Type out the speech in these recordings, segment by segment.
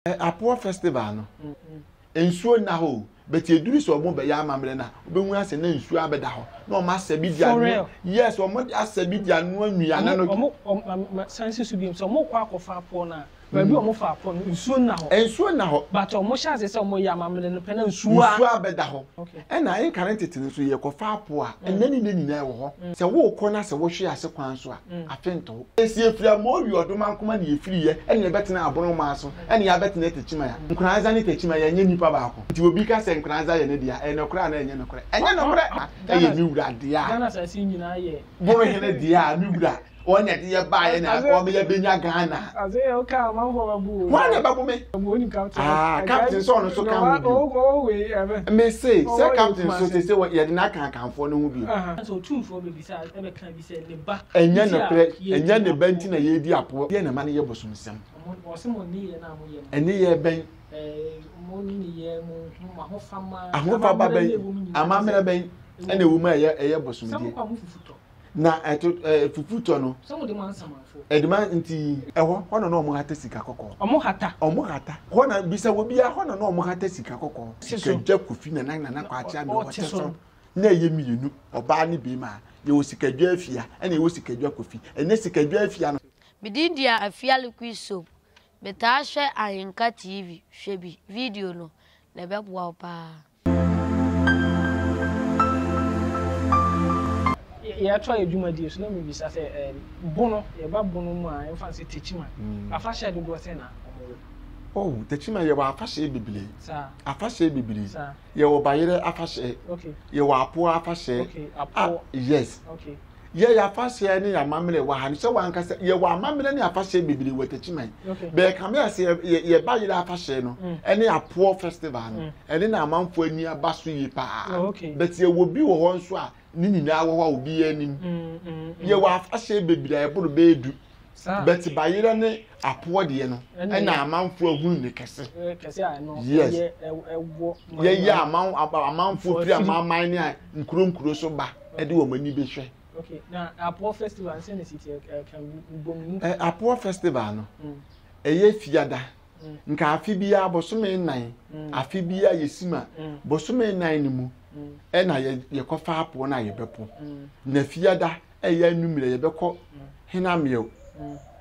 Apoɔ festival no nsuo nna hɔ o but eduru sɛ wɔn bɛyɛ amammerɛ na wobɛhu asɛ na nsuo abɛda hɔ na wɔn asɛ bi di ano yes wɔn de asɛ bi di ano anuane no. Wɔn wɔn sansi so bi sɛ wɔn kɔ akɔfa apoɔ no a baabi wɔn fa apoɔ no nsuo nna hɔ. Nsuo nna hɔ. But wɔn hyɛ ase sɛ wɔn yɛ amammerɛ no pɛ na nsuo a. Nsuo abɛda hɔ. Okay. Ɛna ayɛ nkane tete no nso yɛ kɔfa apoɔ a ɛnɛ ne nɛ nyinaa wɔ hɔ sɛ wɔkɔ na sɛ wɔhwe ase kwan so a afentoo. Esi efiri a mɔɔ wi ɔdoma nkoma ne efiri yɛ ɛne ɛbɛtena abono maa so ɛne ya bɛtena tekyima ya nkoranza ne tekyima ya nyɛ nipa baako nti obi ka sɛ nkoranza yɛ ne dea ɛyɛ nɔkorɛ anaa ɛnyɛ nɔkorɛ ɛnyɛ nɔkorɛ na ɛyɛ me wura dea bono hene dea me wura ɔnya de yɛ baa yɛ na ɔma yɛ bɛnya Ghana hwan na ɛbɛbo me aa captain sɛ ɔno nso ka ho bio me se sɛ captain nso sese yɛde no aka akanfoɔ no ho bio. Ɛnyɛ nokorɛ, ɛnyɛ ne ba nti na yɛredi apoɔ. Deɛ na ɛma no yɛ bosomsɛm. Nneyɛɛ bɛn? Ahofama bɛn? Amammerɛ bɛn ɛna ɛwɔ mu a ɛyɛ ɛyɛ bosomdie? Na ɛto ɛɛ fufutɔ no. Ɛde ma nti. Ɛhɔ hɔ na na wɔn hata sika kɔkɔɔ. Wɔn hata. Wɔn hata. Hɔ na bisa obiara hɔ na na wɔn hata sika kɔkɔɔ. Sika gya kofi na na nana kwaakye ame wɔte so. na ɛyɛ mmienu, ɔbaa ne barima. Yɛwɔ Sikadwa Afia ɛna yɛwɔ Sikadwa Kofi. Ɛnɛ Sikadwa Afia no. Me din dia Afia Liquid Soap. Me taa hwɛ Ahenka TV, hwɛ bi, video no, na ɛbɛboa wo paa. Yɛtoa yɛ dwumadie so na me bisa sɛ ɛɛm bono yɛba bono mu a yɛmfa no sɛ Tekyima afahyɛ dodoɔ sɛn na ɔmo wɔ? Oh Tekyima yɛwɔ afahyɛ bebree saa afahyɛ bebree saa yɛwɔ bayerɛ afahyɛ yɛwɔ apoɔ afahyɛ ah, yes yɛyɛ afahyɛ ne yɛ amammerɛ wɔ ha no sɛ wankasa yɛwɔ amammerɛ ne afahyɛ bebree wɔ takyiman bɛɛkame a sɛ yɛ bayerɛ afahyɛ no mm. ɛne apoɔ festival no mm. ɛne na amanfoɔ ani aba so yie paa oh, but yɛwɔ bi wɔ hɔ nso a ne nyinaa wɔ hɔ a obiara anim. Yɛwɔ afahyɛ bebree a ɛboro bɛyɛ du. Bɛte bayerɛ ne apoɔ deɛ no ɛna amanfoɔ ahunu ne kɛse. Yes. Yɛyɛ amanfoɔ firi amanman ne nkuro nkuro so ba ɛde wɔn ani bɛhwɛ. Okay, na Apoɔ festival nsɛn na si tiɛ kan bom. Apoɔ festival no ɛyɛ fiada. nka afe biara bosome nnan afe biara yɛsi ma bosome nnan no mu ɛna yɛkɔfa apoɔ no a yɛbɛpo na fiada ɛyɛ anwummerɛ yɛbɛkɔ henameɛ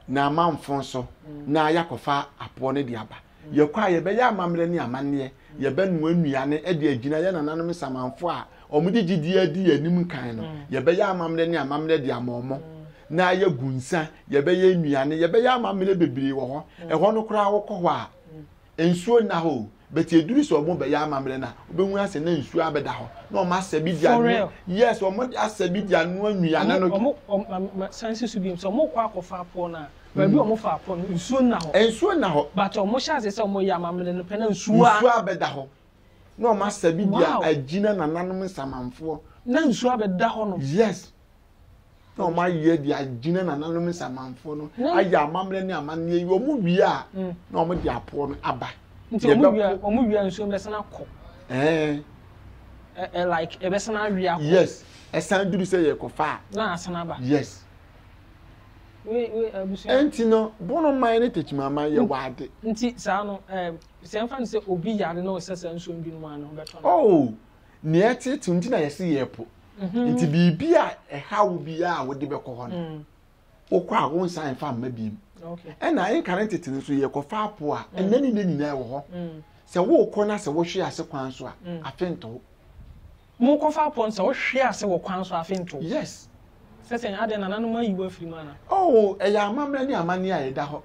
na amanfo nso na yɛakɔfa apoɔ no de aba yɛkɔ a yɛbɛyɛ amammerɛ ne amanneɛ yɛbɛnoa nnuane de agyina yɛ nananom samanfo a Wɔde gyidie adi yɛn anim kan no, yɛbɛyɛ amammerɛ ne amammerɛ de ama wɔn. Na yɛagu nsã, yɛbɛyɛ nnuane, yɛbɛyɛ amammerɛ bebree wɔ hɔ. Ɛhɔ no koraa wokɔ hɔ a, nsuo nna hɔ o. But ɛduru sɛ wɔrebɛyɛ amammerɛ no a, wobɛhunu asɛ na nsuo abɛda hɔ. Na wɔasɛ bi de anoa. Yes, wɔasɛ bi de anoa nnuane no bi. Masane si so bio sɛ wɔrekɔ akɔfa pɔ no a, baabi a wɔfaa pɔ no, nsuo nna hɔ. Nsuo nna hɔ. But wɔhyɛ aseɛ sɛ wɔreyɛ amammerɛ no pɛ na nsuo a. Nsuo abɛda hɔ. na wɔn asa bi di agyina nananom nsamanfoɔ. na nsuo abɛda hɔ no. yes na wɔn ayɛ de agyina nananom nsamanfoɔ no ayɛ amammerɛ ne amanneɛ yi wɔn wie a mm. na wɔn de apoɔ no aba. nti wɔn wie a wɔn wie a nsuo bɛsan akɔ. ɛɛ ɛɛ like ɛbɛsan awie akɔ. yes ɛsan duru sɛ yɛ kɔfa a. na asan aba. yes. ɛnti no bono man ne tekyima man yɛ mm. waade. nti saa no ɛɛ. Sɛ yɛmfa no sɛ obi yare na ɔsɛ saa nsuo no bi nom a, ne ho bɛtɔ no? Oo! Nea ɛteetew nti na yɛse yɛrepo. Enti biribi a ɛhaw wo biara a wode bɛkɔ hɔ no, wokɔ a wonsan mfa mma bio. Ɛnna nka ne tete no nso, yɛkɔfa apo a, ɛnnɛ ne nnɛ nyinaa ɛwɔ hɔ. Sɛ worekɔ na sɛ wohwe ase kwan so a, afe nto wo. Mo kɔ fa apɔn sɛ wo hwe ase wɔ kwan so afe ntow. Yes. Sɛ sɛn, adɛn nananom ayi wo afiri mu ana? Oh, ɛyɛ amammerɛ ne amanneɛ a ɛda hɔ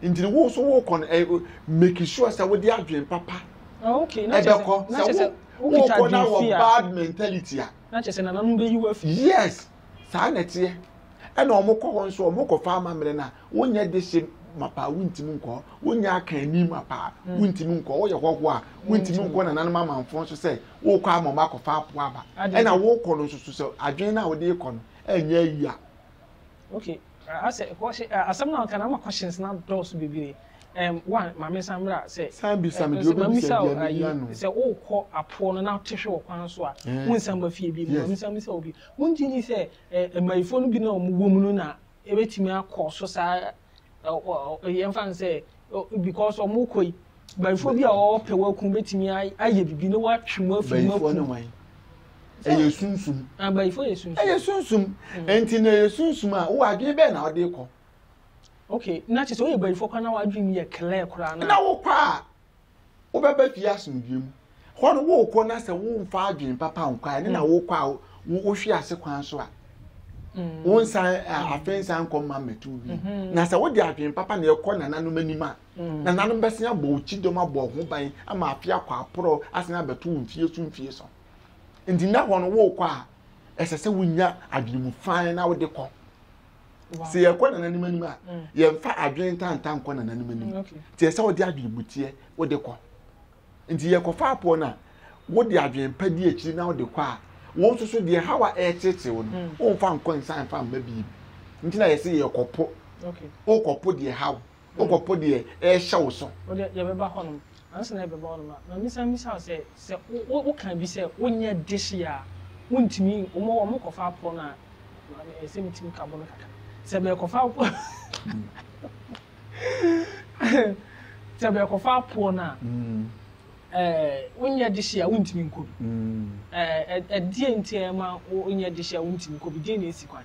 nti no wo nso wokɔ no ɛ, make sure sɛ wode adwene papa Ah, okay, na kyerɛ sɛ, ɛbɛkɔ, na sɛ kyerɛ wo, sɛ wokita wokɔ na adwene wɔ fi a. bad mentality a. Na kyerɛ sɛ nananom bɛyi wo afi. Yes, Saa na ɛteɛ. Ɛna wɔn kɔ hɔ nso wɔn kɔ fa amammerɛ na wonyɛ de hyɛ mapa a wontumi nkɔ hɔ wonyɛ aka ani mapa a hmm. wontumi nkɔ hɔ woyɛ hɔhoɔ a wontumi nkɔ nananom amanfoɔ nso sɛ wokɔ ama wɔn akɔfa apo aba ɛna wokɔ no nso so sɛ adwene no a wode kɔ no ɛnyɛ ayi a. okay asɛ kɔhyɛ asɛm na nka na ama questions na dɔɔso bebree ɛm wa maame san mmerɛ sɛ san bi san bi deɛ obi bi sɛ deɛ ne yia no sɛ wokɔ apoɔ no na te hwɛ wɔ kwan so a wonsan ba fie bi mu maame san bi sɛ obi Wongye nni sɛ mmayifoɔ no bi no a wɔwɔ mu no na ɛbɛtumi akɔ so saa ara, yɛmfa no sɛ because wɔkɔ yi, bayifoɔ bi a wɔpɛ wɔaku bɛtumi ayɛ biribi na wɔatwe mu afiri mu aku. Bayifoɔ ne wan? Ɛyɛ sunsum. Bayifoɔ yɛ sunsum. Ɛyɛ sunsum. Nti na ɛyɛ sunsum a, wowɔ adwene bɛn na wode kɔ? Okay, na kyerɛ sɛ woyɛ bayifoɔ koraa na w'adwene mu yɛ clear koraa no a. Na wokɔ a, wobɛba fie asomdwoe mu. Hɔ no worekɔ na sɛ womfa adwene papa nkɔ a, ɛne na wokɔ a wohwe ase kwan so a mm. wonsan mm. afei nsan nkɔ mma mmɛto bi. Mm-hmm. Na sɛ wode adwene papa na ɛkɔ nananom anim a, mm. nananom bɛsen abɔ wo kyidɔm abɔ ho ban ama afe akɔ aporɔ asen abɛto wo mfie so mfie so. Nti na hɔ no worekɔ a, ɛsɛ sɛ wonya adwene mu fan na wode kɔ. sɛ yɛkɔ nananom anim a mm. yɛmfa adwene ntanta nkɔ nananom anim mm, nti ɛsɛ wode adwene buteɛ wode kɔ nti yɛkɔfa apoɔ no a wode adwene pa di akyiri na wode kɔ a wɔn nso so deɛ hawa ɛrekyerɛkyerɛ wɔn no mm. wɔmfa nkɔ nsa mfa mma biribi nti na yɛsɛ yɛkɔpo wokɔpo deɛ haw Wokɔpo deɛ ɛrehyɛ wo so. Wo deɛ, yɛbɛba hɔnom. Ansa na yɛbɛba hɔnom no, ma mensan mmisa wo sɛ, sɛ wo, wokaa bi sɛ wonyɛ dehye a, wontumi, wɔn, wɔkɔfa aporɔ no a, ma me, ɛyɛ sɛ metumi ka bo no kakra. Sɛ bɛrekɔfa aporɔ, sɛ bɛrekɔfa aporɔ no a, ɛɛ, wonyɛ dehye a, wontumi nkɔ bi. Ɛɛ, ɛdeɛn nti a ɛma wonyɛ dehye a wontumi nkɔ bi? Deɛn na esi kwan?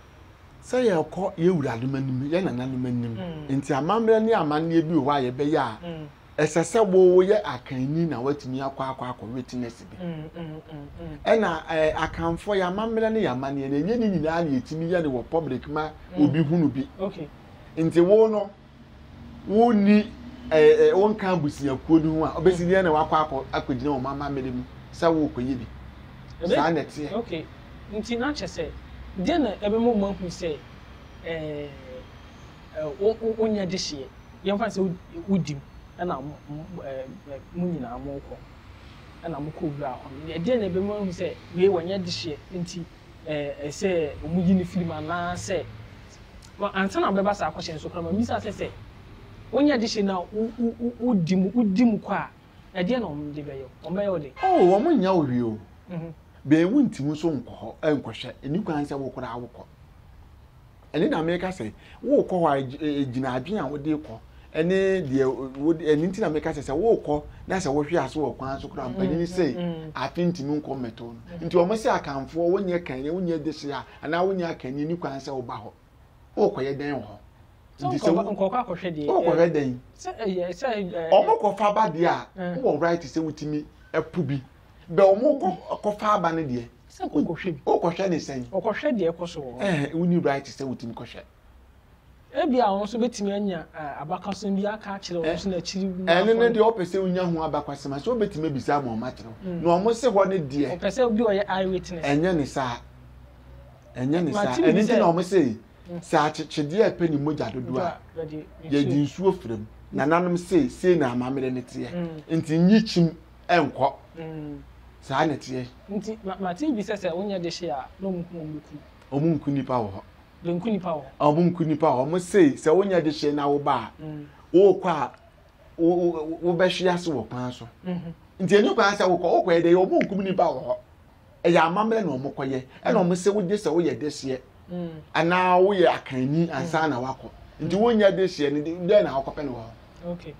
sɛ yɛrekɔ yɛn wuranom anim, yɛn nananom anim. Mm. Nti amammerɛ ne amanneɛ bi wɔ hɔ a yɛbɛyɛ a, mm. ɛsɛ sɛ woyɛ akanni na woatumi akɔ akɔ akɔ witness bi. Mm, Ɛna eh, akanfoɔ yɛ amammerɛ ne yɛ amanneɛ no, ɛnyɛ ne nyinaa na yɛtumi yɛ no wɔ public ma obi hunu bi. Okay. Nti wo no, wonni ɛɛ eh, wonka abusuakuo no ho a ɔbɛsi deɛ na wakɔ akɔ akɔgyina wɔn amammerɛ mu sɛ worekɔyɛ bi saa na ɛteɛ. okay nti na kyɛ sɛ deɛ na ɛbɛma wɔn ahu sɛ ɛɛ eh, wo wo wonyɛ dehyeɛ yɛmfa sɛ wodi mu ɛna mo ɛɛ mo nyinaa mokɔ ɛna mokɔ wura hɔ no deɛ na ɛbɛma wɔn ahu sɛ wei wɔnyɛ dehyeɛ nti. ɛɛ sɛ wɔyi no firi mu anaasɛ Well, ansa na wobɛba saa question no so koraa no, mabisa sɛ, sɛ wonyɛ adehyeɛ no a wodi mu wodi mu kɔ a, ɛdeɛn na wɔde bɛyɛ wo? Wɔbɛyɛ wo dɛn? Oh, wɔnnyɛ wo hwee o. Bɛn wo nti mu nso nkɔ hɔ nkɔhwɛ. Ɛnni kwan sɛ wo koraa wokɔ. Ɛno na meka sɛ worekɔ hɔ a gyina adwene a wode kɔ ɛne deɛ wode ɛno nti na meka sɛ sɛ worekɔ na sɛ wohwe ase wɔ kwan so koraa mpanyin mm, sei mm. afe ntumi nkɔ mmɛtɔ no nti wɔn sɛ akanfoɔ wonyɛ kan wonyɛ dese a anaa wonyɛ akanni ni kwan sɛ woba hɔ worekɔyɛ dɛn wɔ hɔ nti sɛ nkɔkɔ akɔhwɛ deɛ wokɔhwɛ dɛn sɛ ɛyɛ sɛ ɛɛ wɔn kɔfa ba deɛ a wɔ right sɛ wotumi ɛpo bi bɛ wɔn kɔfa aba no deɛ Sɛ worekɔhwɛ bi. Worekɔhwɛ ne sɛn? Wɔkɔhwɛ deɛ ɛrekɔ so wɔ hɔ. Ɛɛ, wonni right sɛ wotumi kɔhwɛ? Ebia wɔn nso betumi anya abakɔsɛm bi aka akyerɛ wɔn nso na akyiri mu afɔre. Ɛno ne deɛ wɔpɛ sɛ wonya ho abakɔsɛm a, so wobetumi abisa ama wɔakyerɛ wo? Na wɔn se hɔ no deɛ. Wɔpɛ sɛ obi a ɔyɛ eye witness. Ɛnyɛ ne saa. Ɛnyɛ ne saa. Ɛno nti na wɔn se, sɛ akyekyedeɛ a ɛpɛ ne mogya dodo a, yɛde nsuo fira mu. Nananom se, sei na amammerɛ no teɛ. Nti nyi kyim. nkɔ. Saa na ɛteɛ. Nti mate obi sɛ sɛ wonyɛ dehye a na wɔn kum wɔn ku. Wɔn nku nipa wɔ hɔ. Bɛnku nipa wɔ hɔ. A wɔn nku nipa wɔ hɔ. Wɔn se sɛ wonyɛ dehye na woba a, wokɔ a wo wo wobɛhwe ase wɔ kwan so. Nti ɛnyɛ kwan sɛ wokɔ wokɔ yɛ dɛ wɔn nkum nipa wɔ hɔ. ɛyɛ amammerɛ na wɔn kɔyɛ ɛna wɔn sɛ wogye sɛ woyɛ dehyeɛ mm. anaa woyɛ akanni mm. ansa na wakɔ nti wonya dehyeɛ no dɛn na wokɔpɛ no wɔ hɔ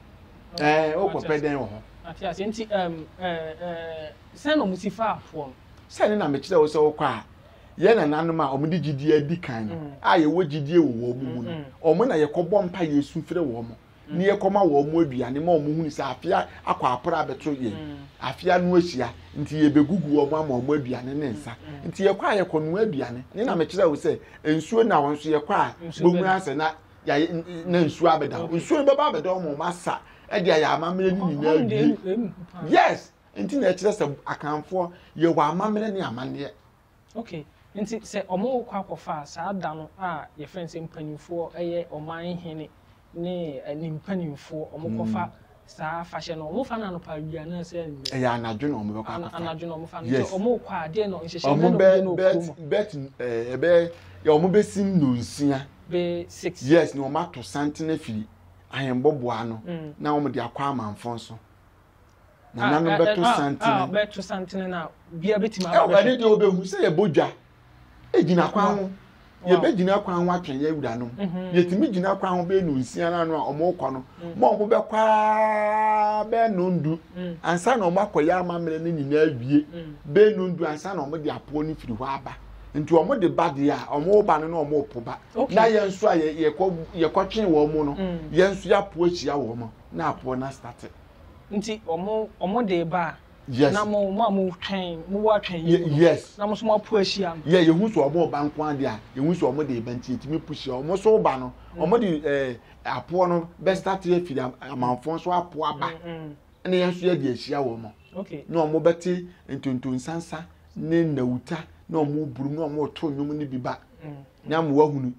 ɛɛ wokɔpɛ dɛn wɔ hɔ. ate ase nti ɛm ɛɛ ɛɛ sɛn na wɔn si fa afoɔ no. sɛn na mekyerɛ wo sɛ wokɔ a yɛn nananom a wɔn de gyidie adi kan no mm. a yɛwɔ gyidie wɔ wɔn mu no wɔn na yɛkɔbɔ mpa yɛ esu fere wɔn. ne yɛkɔma wɔn mo aduane ma wɔn hunu sɛ afea akɔ apra abɛto yɛn afea no ahyia nti yɛbɛgugu wɔn ama wɔn aduane ne nsa nti yɛkɔ a yɛkɔ noa aduane ne na mekyerɛ wo sɛ nsuo na wɔn nso yɛkɔ a bɛhunu asɛ na yɛayɛ na nsuo abɛda hɔ nsuo no bɛba abɛda wɔn wɔn asa ɛde ayɛ amammerɛ no nyinaa wie yes nti na ɛkyerɛ sɛ akanfoɔ yɛwɔ amammerɛ ne amanneɛ Ok, nti sɛ wɔkɔ akɔfa a, saa da no a yɛfrɛ no sɛ mpaninfoɔ yɛ ɔman hene ne ne mpaninfoɔ, wɔkɔfa saa afahyɛ no, wɔfa no anɔpa awia anaasɛ anwummerɛ? Ɛyɛ anadwo na wɔbɛkɔ akɔfa. Anadwo na wɔfa no. Yes. Nti wɔkɔ a, deɛ no nhyehyɛ bɛ na wɔbɛyɛ no wɔ kurom. Bet, ɛbɛ, yɛ wɔbɛsi nnonsia. Bɛ six. Yes, na wɔato santene afiri ahɛmmɔboa ano, na wɔde akɔ amanfo nso. Nananom bɛto santene. A bɛto santene na bia bɛtumi aba bɛhwɛ. Ɛne deɛ wɔbɛhu sɛ yɛbɔ dwa gyina kwan ho. Yɛbɛgyina kwan ho atwɛn yɛn wuranom. Mhm. Yɛtumi gyina kwan ho bɛyɛ no nsia no ano a wɔrekɔ no. Mm. Ma wɔbɛkɔ ara bɛyɛ no ndu mm. ansa na wɔakɔyɛ amammerɛ no nyinaa awie. Mm. Bɛyɛ no ndu ansa na wɔde apoɔ no firi hɔ aba. Nti wɔde ba deɛ a wɔba no na wɔpo ba. Na yɛn nso a yɛkɔtwee wɔn no, yɛn nso yɛapo ahyia wɔn. na apoɔ no astate. Nti ɔmo ɔmo de ba a. Yes. Na mo mo a mo twɛn mo wɔ atwɛn yɛ mu. Yes. Na mo nso mo apo ahyia no. Yɛ yehu sɛ ɔmo ba nko adeɛ a yehu sɛ ɔmo de ba nti yɛtumi po hyia ɔmo so ba no mm. ɔmo de ɛɛ eh, apoɔ no bɛ start afiri amanfoɔ nso apo aba mm, mm. ɛna yɛn nso yɛ de ahyia wɔn. Okay. Na ɔmo bɛte ntontonsansa ne nnawuta na ɔmo burum na ɔmo to nnwom no bi ba na mo wahunu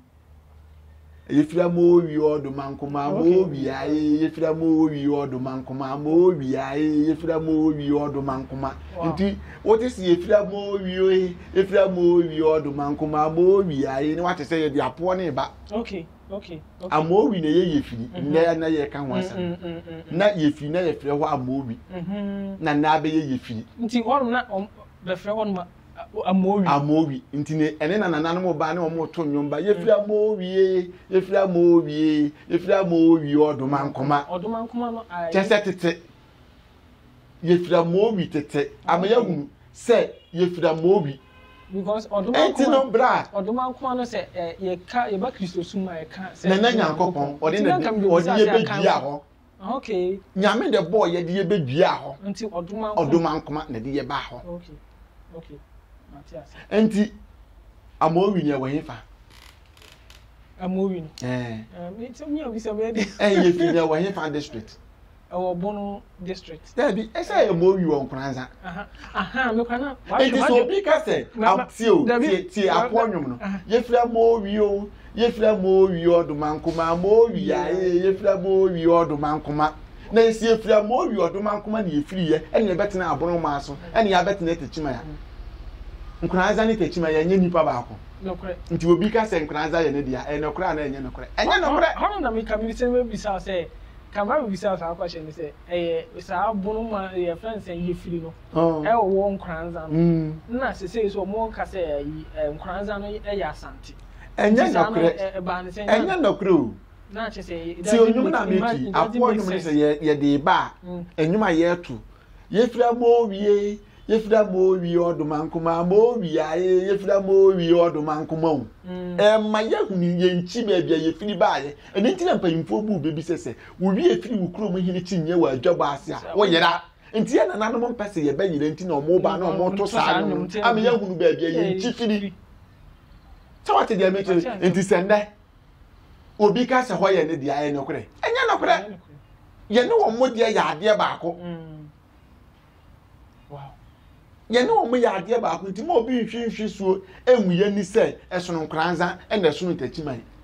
yɛfira ma owi ɔdo ma nkoma ma owi aye yɛfira ma owi ɔdo ma nkoma ma owi aye yɛfira ma owi ɔdo ma nkoma nti wote sɛ yɛfira ma owi oye yɛfira ma owi ɔdo ma nkoma ma owi aye ne wate sɛ yɛde apoɔ ne ba ama owi na yɛyɛ firi mhm. nnɛ na yɛka ho asɛm mhm, mhm, na yɛfiri na yɛfrɛ hɔ ama owi na na abɛyɛ yɛfiri nti ɔno na bɛfrɛ hɔ no ma Amowi. Amowi. Nti ne ɛne na nananom ba ne wɔn to nnwom ba. Yɛfiri Amowie, yɛfiri Amowie, yɛfiri Amowie ɔdoma nkoma. Ɔdoma nkoma no ayɛ. Kyɛ sɛ tete. Yɛfiri Amowi tete. Ama yɛahunu sɛ yɛfiri Amowi. Because ɔdoma nkoma. Ɛnti no bra. Ɔdoma nkoma no sɛ yɛka yɛba Kristo sum a yɛka sɛ. Nana Nyankopɔn ɔde na ɔde yɛbɛdua hɔ. Nyame dɛ bɔɔ yɛ de yɛ bɛ dua hɔ, ɔdomankoma na de yɛ baa hɔ. Nti Amowi no yɛ wɔ hefa? Amowi no? Ɛɛ. Ɛɛ sɛ mi a bisa mi ɛdi. Ɛɛ yɛ fi no yɛ wɔ hefa district? Ɛwɔ Bono district. Dɛbi ɛsɛ yɛ Amowi wɔ Nkoranza. Ahaa mi kura na. Nti sɛ obi ka sɛ tie o tie tie akoɔ nwom no yɛ fira Amowi o. Yefira mo wi ɔdoma nkoma mo wi a ee yefira mo wi ɔdoma nkoma na yɛsi efira mo wi ɔdoma nkoma na yɛfiri yɛ ɛna yɛbɛtena abono maa so ɛna yɛabɛtena tɛkyima ya nkoranza ne tɛkyima ya ɛnyɛ nipa baako nti obi ka sɛ nkoranza yɛ ne deɛ ɛyɛ nɔkorɛ anaa ɛnyɛ nɔkorɛ ɛnyɛ nɔkorɛ hɔnom na meka me sɛ mɛbisa sɛ ka ma mebisa saa kwahyɛ no sɛ ɛyɛ saa abono ma yɛ friend sɛ yɛfiri no oh. ɛwɔ nkoranza no mm. na sesei so ɔmo ka sɛ nkoranza no ɛyɛ asante ɛnyɛ nɔkorɛ ɛnyɛ nɔkorɛ o ti onwom na meki aboɔ onwom ne sɛ yɛde ba a mm. ɛnwom a yɛto yɛfiri ama owie yɛfiri ama owie ɔdoma nkoma ama owie ayɛ yɛfiri ama owie ɔdoma nkoma o mm. ɛma yɛhunu yɛnkyi baabi a yɛfiri baayɛ ɛno nti na mpanyimfoɔ bu baabi sɛ sɛ wowie firi wo kurom hene kyinyɛ wɔ adwabɔ ase a wɔyera nti yɛ nananom mpɛ sɛ yɛbɛyerɛ nti na ɔmo ba na ɔmo to saa no ama yɛhunu baabi a yɛnkyi firi sɛ wate deɛ mekyerɛ nti sɛ nnɛ obi ka sɛ hɔ yɛ ne deɛ ɛyɛ nokorɛ ɛnyɛ nokorɛ yɛne wɔn mo deɛ yɛ adeɛ baako yɛne wɔn mo yɛ adeɛ baako nti mo obi nhwi nhwi suo ɛnwu yɛ ni sɛ ɛsono nkoranza ɛna ɛsono ntakyiman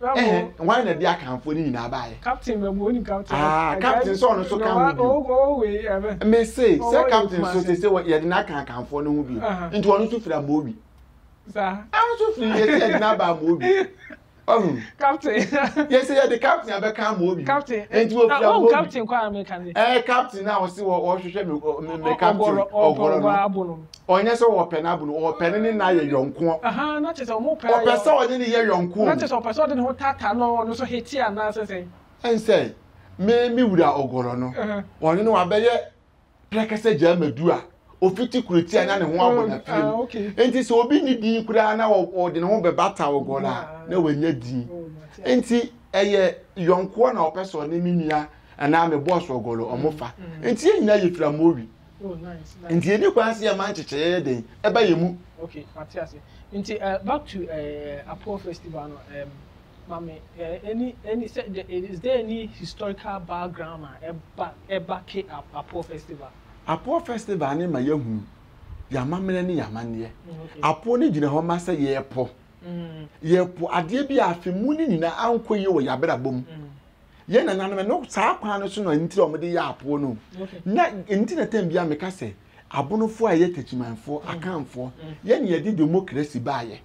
Ɛhɛn, hwan na de Akanfoɔ no nyinaa baeɛ? Captain bɛ mu, onim captain. Ah, captain sɛ ɔno nso ka ho bi. Ɔwɔ ɔwɔ wei ɛbɛ. Mese sɛ captain so sɛ sɛ yɛde no aka Akanfoɔ no ho bi. Nti ɔno nso firi Amowi. Saa. Ɔno nso firi yɛsɛ yɛde no aba Amowi. Ɔhu. Captain. Yɛsɛ yɛde captain abɛka Amowi. Captain. Nti wɔ firi Amowi. Ɔwɔ captain kɔ a meka ne. Ɛɛ captain a ɔse ɔhwehwɛ me me captain ɔgɔrɔ no. Ɔnyɛ sɛ ɔpɛ no abunu, ɔpɛ ne ne no ayɛ yɔnkoɔ. Ɔpɛ sɛ ɔne no yɛ yɔnkoɔ. Ɛnsɛ me me wura Ogorɔ no, ɔne no abɛyɛ prɛkɛsɛ gyaa madu a ɔfiti kurotia na ne ho abɔ n'afie mu. Enti sɛ obi nni din koraa na ɔde ne ho bɛbata Ogorɔ a, na wanya din. Enti ɛyɛ yɔnkoɔ na ɔpɛ sɛ ɔne me nua anaa me bɔɔso Ogorɔ wɔfa. Enti yɛn nyinaa yɛfiri Amowi. Nti yɛni kwan sɛ yɛma nkyekyɛeɛ yɛ den ɛba yɛn mu. Okay, mate ase. Nti uh, back to uh, Apoɔ festival no, um, mami, uh, any, any, is there any historical background a ɛba ɛba ke Apoɔ festival? Apoɔ festival ne ma yɛhunu yɛamammerɛ ne yɛamanneɛ. Mm, Apoɔ no gyina hɔ ma sɛ yɛpo. Mm. Yɛpo adeɛ bi a afe mu no nyinaa ankɔ yie wɔ yɛabrabɔ mu. Mm. yɛn nananom ɛno saa kwan no so na nti a wɔde yɛ apoɔ no na nti na tɛm bia meka sɛ abonofoɔ a yɛ takyimanfoɔ mm. akanfoɔ mm. yɛne yɛde democracy baayɛ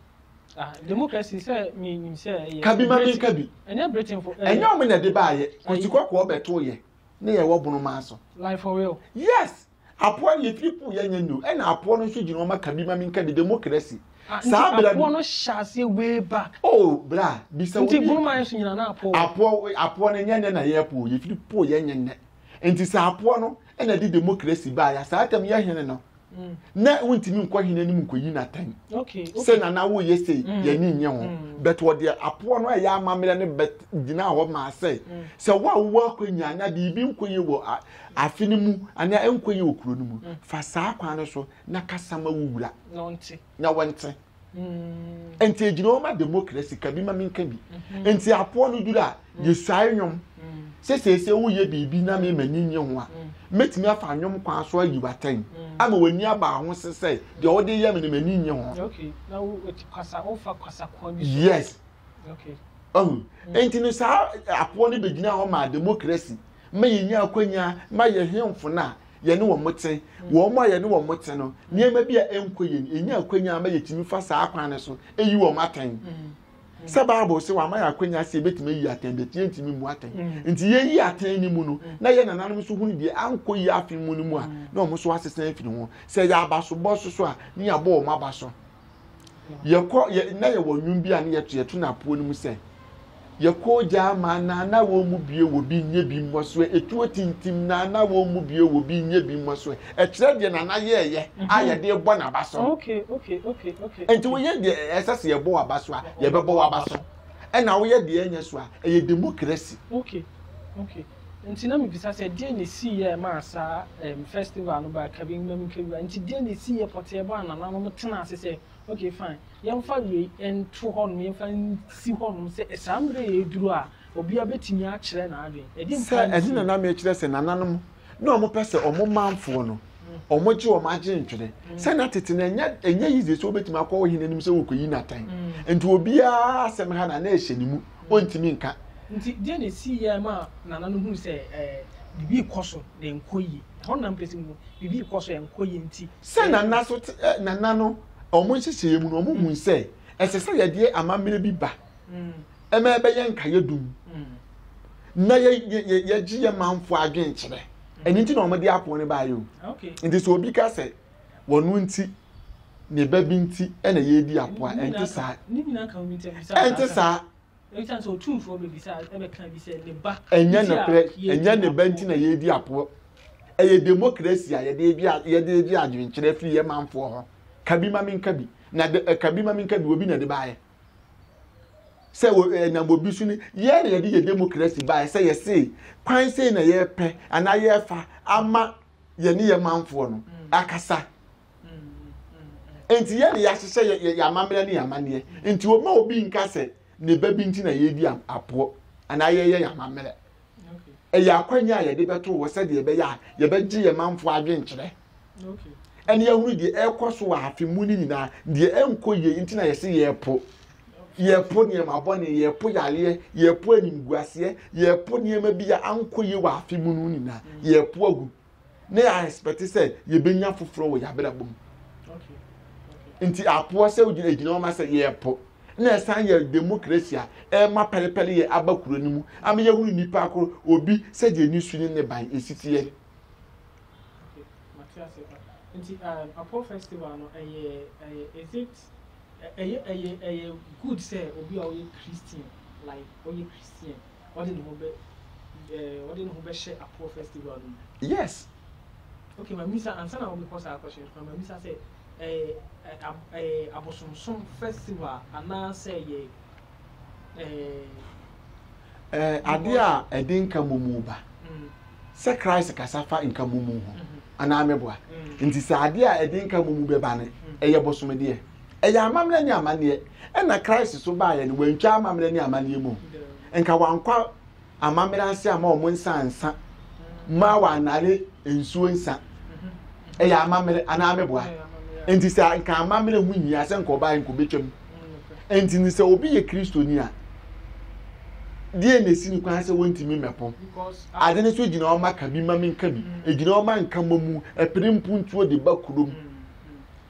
ah, democracy sɛ menim sɛ ɛyɛ kabi ma menka bi ɛnyɛ britainfo ɛnyɛ wɔn na ɛde baayɛ kɔsi kɔkɔɔ bɛto yɛ ne yɛwɔ bono maa so life for real yes Apoa no yɛ firi kuu yɛ nyɛ new ɛna apoa no nso gyina ɔma ka bi ma mi nka bi democracy saa bra bi. Apoa no hyɛ aseɛ way back. Oh bra bisa obi. Nti Bunuman nso nyina na apoa wɔ. Apoa apoa no nyɛ nɛ na yɛ poo yɛ firi poo yɛ nyɛ nɛ nti sɛ apoa no ɛna de democracy baa ya saa tɛm yɛ hene no nɛ wo ntimi nkɔ hene anim nkɔ yi na tɛn sɛ nana wo yɛ sei yɛ ni nyɛ ho bɛt wɔ deɛ apoa no ɛyɛ amamerɛ no bɛt gyina hɔ maa sɛ sɛ wo a wo wɔ akɔ nya na biribi nkɔ yɛ wɔ Afe no mu anaa ɛnkɔ yie wɔ kuro no mu. Fa saa kwan no so na kasa ma wo wura na wɔnte. Nti ɛgyina hɔ ma demokrasi, ka bi ma menka bi. Nti apoɔ no duru a, yɛsuae nnwom. Sɛ seesei woyɛ biribi na me m'ani nnye ho a, mɛtumi afa nnwom kwan so ayi w'atɛn ama w'ani aba ho se sɛ deɛ wode reyɛ me no m'ani nnye ho. Yes. Ɔhu? Nti no saa apoɔ no bɛgyina hɔ maa demokrasi. ma yɛnya akwanya ma yɛn hemfo no a yɛne wɔn te, wɔn a yɛne wɔn te no, nneɛma bi a ɛnkɔ yɛn, yɛnya akwanya ma yɛtumi fa saa kwan no so yi wɔn atɛn. Sɛ Bible sɛ wɔama yɛ akwanya sɛ yɛbɛtumi ayi atɛn de, ɛteɛ ntumi mmu atɛn. Mm. Nti yɛyi atɛn no mu no, na yɛ nananom nso hunu deɛ ankɔ yi afe mu no mu a, na wɔn nso asesa afiri ho. Sɛ yɛ abasobɔ nso so a, ne yɛabɔ wɔn aba so. yɛkɔ yɛ na yɛwɔ nnwom bi a ne yɛto yɛto no apoɔ no mu sɛ yɛkɔ gyaa ma naana wɔn mu bie wɔ bi nyɛ bi mmɔ so etuo tintim naana wɔn mu bie wɔ bi nyɛ bi mmɔ so ɛkyerɛ deɛ nana yɛɛyɛ a mhm. yɛde bɔ n'aba so nti woyɛ deɛ ɛsɛ sɛ yɛbɔ w'aba so a yɛbɛbɔ w'aba so ɛna woyɛ deɛ ɛnyɛ so a ɛyɛ demokrasi Nti na mibisa sɛ, deɛn na ɛsiiɛ a ɛmaa saa ɛɛm festival no baa Kabingbam Nkawura? Nti deɛn na ɛsiiɛ pɔtee bɔ a nananom tenaa ase sɛ, ok fine, yɛmfa wei nto hɔnom, yɛmfa nsi hɔnom sɛ saa mmerɛ yi aduru a obiara bɛtumi akyerɛ n'adwene? Ɛdeɛn Sɛ paa na ɛno na ɛsiiɛ? na mekyerɛ sɛ nananom na wɔpɛ sɛ wɔn manfoɔ no, wɔgye wɔn adwentwene. Sɛ na tete no, ɛnyɛ ɛnyɛ easy sɛ wobɛtumi akɔ ɔhene anim sɛ worekɔyi no atɛn. Nti obiara asɛm ha na na ɛhyɛ ne mu. ontumi nka. Nti deɛ na ɛsiiɛ maa Nana no hunu sɛ biribi rekɔ so na ɛnkɔ yie. Ɛhɔ no na mpɛ sɛ muhu, biribi rekɔ so ɛnkɔ yie nti. Sɛ Nana so te, Nana no wɔn nhyehyɛeɛ mu no wɔhunu sɛ ɛsɛ sɛ yɛde amammerɛ bi ba ma ɛbɛyɛ nkaeɛdum na yɛ yɛ yɛgye yɛ manfoɔ adwenkyerɛ. Ɛno nti na wɔde apono no baeɛ o. Nti sɛ obi ka sɛ. wɔn nti, ne ba bi nti na yɛredi apoa. Ɛnte saa? Ɛnte saa? Ɛnyɛ nokorɛ, ɛnyɛ ne ba nti na yɛredi apoa. Ɛyɛ demokrasi a yɛde agye adwenkyerɛ afiri yɛn manfoɔ hɔ. Ka bi ma menka bi. Na de, ka bi ma menka bi, obi na ɛde baeɛ. Sɛ ɛnam obi so ni, yɛn na yɛde yɛ demokrasi baeɛ sɛ yɛse kwan sei na yɛpɛ anaa yɛfa ama yɛne yɛn manfoɔ no akasa nti yɛne yɛahyehyɛ yɛ amammerɛ ne yɛ amanneɛ nti wɔma obi nka sɛ ne ba bi nti na yɛredi apoɔ anaa yɛyɛ yɛ amammerɛ ɛyɛ akwanya a yɛde bɛto wɔ sɛdeɛ ɛbɛyɛ a yɛbɛgye yɛ manfoɔ adwenkyerɛ ɛne ahunu deɛ ɛrekɔ so wɔ afe mu no nyinaa deɛ ɛnkɔ yie nti na yɛse yɛrepo yɛrepo nneɛma bɔne, yɛrepo yareɛ, yɛrepo animguaseɛ, yɛrepo nneɛma bi a ankɔ yie wɔ afe mu no nyinaa, yɛrepo agu. Na yɛ expect sɛ yɛbɛnya foforɔ wɔ yɛabrabɔ mu. Nti apoɔ sɛ wogyina gyina wɔn sɛ yɛrepo. Na ɛsan yɛ democracy a ɛma pɛrepɛre yɛ aba kuro no mu. Ama yɛhunu nipa akoro obi sɛ deɛ ne su ne ne ban esiteɛ. Nti um, apoɔ festival no ɛyɛ ɛyɛ is it Ɛyɛ ɛyɛ ɛyɛ good sɛ obi a ɔyɛ Christian like ɔyɛ Christian ɔde ne ho bɛ ɛɛ ɔde ne ho bɛhyɛ Apoɔ festival no mu. Yes. Okay ma misa ansa na wobɛkɔ saa question no ma misa sɛ ɛyɛ ɛɛ ab ɛyɛ abosomsom festival anaa sɛ ɛyɛ Adeɛ a ɛde nka momu ba. Sɛ Christ kasa fa nka momu ho anaa meboa. Nti sɛ adeɛ a ɛde nka momu bɛba no, ɛyɛ bosomedeɛ. Ɛyɛ amammerɛ ne amanneɛ. Ɛna Christ so baeɛ no, wantwa amammerɛ ne amanneɛ mu. Nka wankɔ amammerɛ ase ama wɔn nsa nsa mu a wɔanare nsuo nsa ɛyɛ amammerɛ anaa meboa nti sɛ nka amammerɛ ho nyia sɛ nka ɔbaa nka ɔbɛtwam nti ne sɛ obi yɛ kristoni a deɛ na ɛsi ne kwan sɛ wɔntumi mmɛpo ade no so gyina ɔma ka bi ma menka bi ɛgyina ɔma nka ma mu ɛpere mpuntuo de ba kurom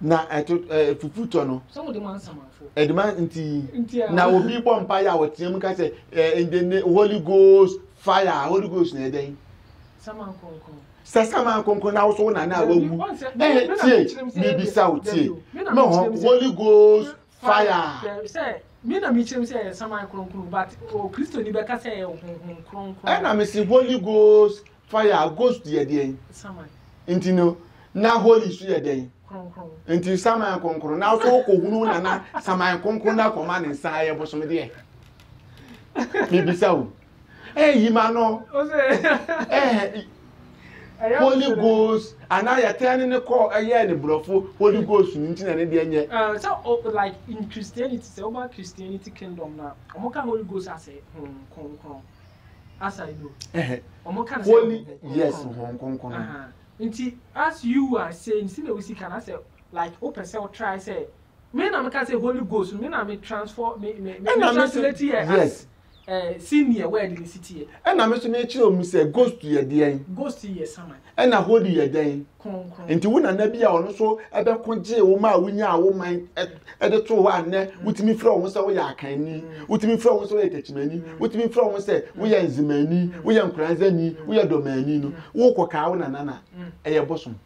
na ɛto ɛɛ eh, fufu tɔ no. sɛ wɔde ma nsamanfo. ɛde ma nti na obi bɔ mpa yɛ a wɔteɛ mu ka sɛ ɛɛ eh, in the name holy ghost fire holy ghost na ɛdɛn. saman kɔnkɔn. sɛ saman kɔnkɔn na awosow na na awawu ɛɛ tie mibisa o tie mɛ hɔ holy ghost fire. sɛ mi na mi kyerɛm sɛ ɛyɛ saman kɔnkɔn but o kristoni bɛ ka sɛ ɛyɛ honhom kɔnkɔn. ɛna mi si holy ghost Fire a ghost yɛ deɛn? Saman. Nti no na holy so yɛ dɛn? Kronkron. Nti saman kronkron na so wokɔhunu na na saman kronkron na akɔma ne nsa yɛ bosom deɛ. Mebisa o. Eh, yima no. Eh, holy ghost anaa yɛtɛn ne ne kɔ ɛyɛ ne borɔfo holy ghost no nti na ne deɛ nyɛ. Uh, so oh, like in christianity sɛ woba christianity kingdom na ɔmo ka holy ghost asɛ hon kronkron holy yes hɔn kronkron. Nti as you are saying si na wo sika na sɛ like wo pɛ sɛ wo try sɛ me na me ka sɛ holy ghost no me na me transform me me me translate yɛ as ɛɛ si neɛ word ne si teɛ. Ɛna me so me kyerɛ ɔmu sɛ ghost yɛ deɛn. Ghost yɛ saman. Ɛna holy yɛ dɛn. nti wo nana bi a ɔno nso ɛbɛko gyee wo ma a wonyaa wo man ɛde too hɔ a nnɛ wotumi frɛ wo ho sɛ woyɛ akanni wotumi frɛ wo ho sɛ woyɛ takyimani wotumi frɛ wo ho sɛ woyɛ nzemani woyɛ nkoranzani woyɛ dɔmani no wokɔ kaa wo nana na ɛyɛ bosom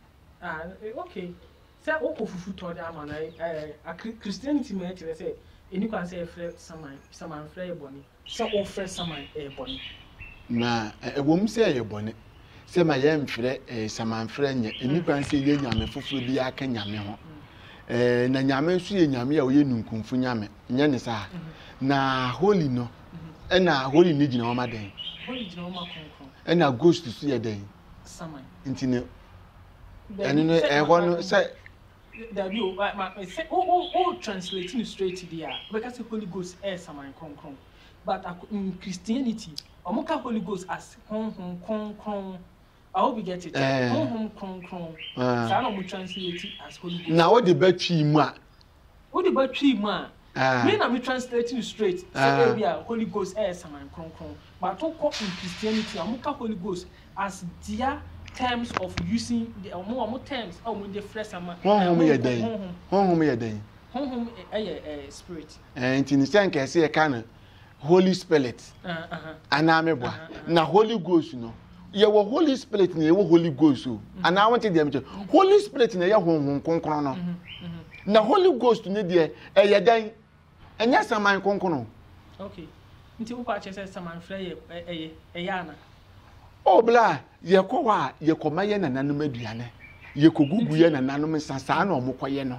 ah, eh, okay sɛ wokɔ fufu tɔ de ama no eh, christianity mu ɛkyerɛ sɛ ɛni kwan sɛ yɛfrɛ saman saman frɛ yɛ bɔne sɛ worefrɛ saman yɛ bɔne? Na ɛwom sɛ ɛyɛ bɔne sɛ ma yɛmfrɛ samanfrɛ nyɛ, ɛnni kwan sɛ yɛyɛ nyame foforɔ bi aka Nyame ho. Na Nyame nso yɛ Nyame a ɔyɛ ninkunfo Nyame, nyɛ ne saa? Na holy no, ɛna holy no gyina hɔ ma dɛn? Holy gyina hɔ ma kronkron. Ɛna ghost nso yɛ dɛn? Saman. Nti no, ɛno no ɛhɔ no sɛ Dabi o ma ma sɛ wo wo wo translate no straight deɛ a wobɛka sɛ Holy Ghost ɛyɛ saman kronkron but ako in Christianity wɔn ka Holy Ghost as honhom kronkron I hope you get it Eh. honhom kronkron Ah. saa na wɔn translate as Holy Ghost na wode bɛtwii mu a wode ba twii mu a Wei na me translate no straight sɛ ebi a Holy Ghost ɛyɛ saman kronkron but wo kɔ in Christianity a ɔmo ka Holy Ghost as their terms of using the ɔmo ɔmo terms a ɔmo de frɛ saman. Honhom yɛ dɛn? Honhom yɛ dɛn? Honhom ɛyɛ ɛɛ spirit. Ɛɛ nti ne sɛ nkɛse yɛ ka no holy spirit anaa meboa na holy ghost no yɛwɔ holy spirit na yɛwɔ holy ghost o anaa wɔn ti deɛ mekyɛ holy spirit na ɛyɛ honhom kronkron no na holy ghost ne deɛ ɛyɛ dɛn ɛnyɛ saman kronkron. okay nti wokɔ akyɛ sɛ saman frɛ yɛ ɛyɛ ɛyɛ ana. o bla yɛkɔ hɔ a yɛkɔ ma yɛ nananom aduane yɛkɔ gugu yɛ nananom nsa saa na wɔn kɔ yɛ no.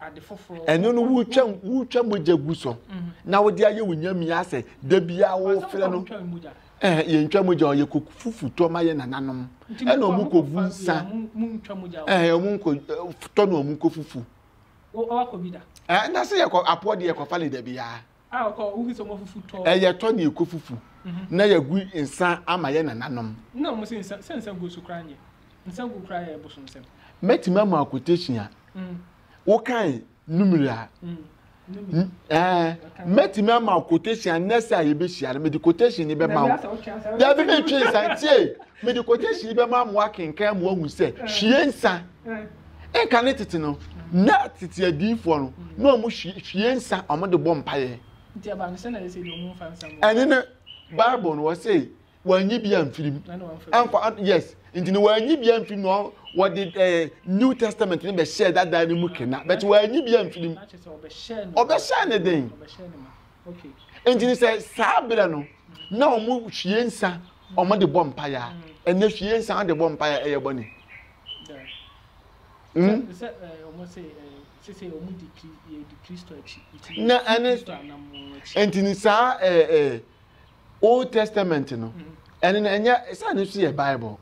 ade foforɔ. ɛno no wotwa wotwa mogya gu so na wode ayɛ wo nyamea asɛ da biara wofrɛ no ɛɛ yɛntwa mogya ɔyɛ kɔ fufu tɔ ma yɛ nananom ɛna wɔn kɔ gu nsa ɛɛ wɔn kɔ tɔ na wɔn kɔ fufu. ɛɛ na se yɛ kɔ apoɔ de yɛ kɔ fa le da biara. Ɛyɛ tɔ na yɛkɔ fufu na yɛagu nsa ama yɛn nananom. Mɛtumi ama wo quotation a wokae numere a mɛtumi ama wo quotation a nɛsɛ a yɛbɛhyia no mede quotation ni bɛma wo dabi metwe nsa tie mede quotation ni bɛma mo akenkan mo ahu sɛ hwie nsa nka ne tete no na tete adiifoɔ no na wɔn hwie nsa wɔn de bɔ mpaeɛ ɛne no bible no wɔsɛ wɔanyi bi amfirim amfa yes nti no wɔanyi bi amfirim na wɔde ɛɛ new testament no bɛhyɛ dada no mu kena bɛtɛ wɔanyi bi amfirim ɔbɛhyɛ ne den nti no sɛ saa berɛ no na wɔn hwie nsa wɔn de bɔ mpaeɛ ɛnɛ hwie nsa wɔn de bɔ mpaeɛ ɛyɛ bɔne. ntini saa old testament no ɛne no ɛnyɛ saa no nso yɛ bible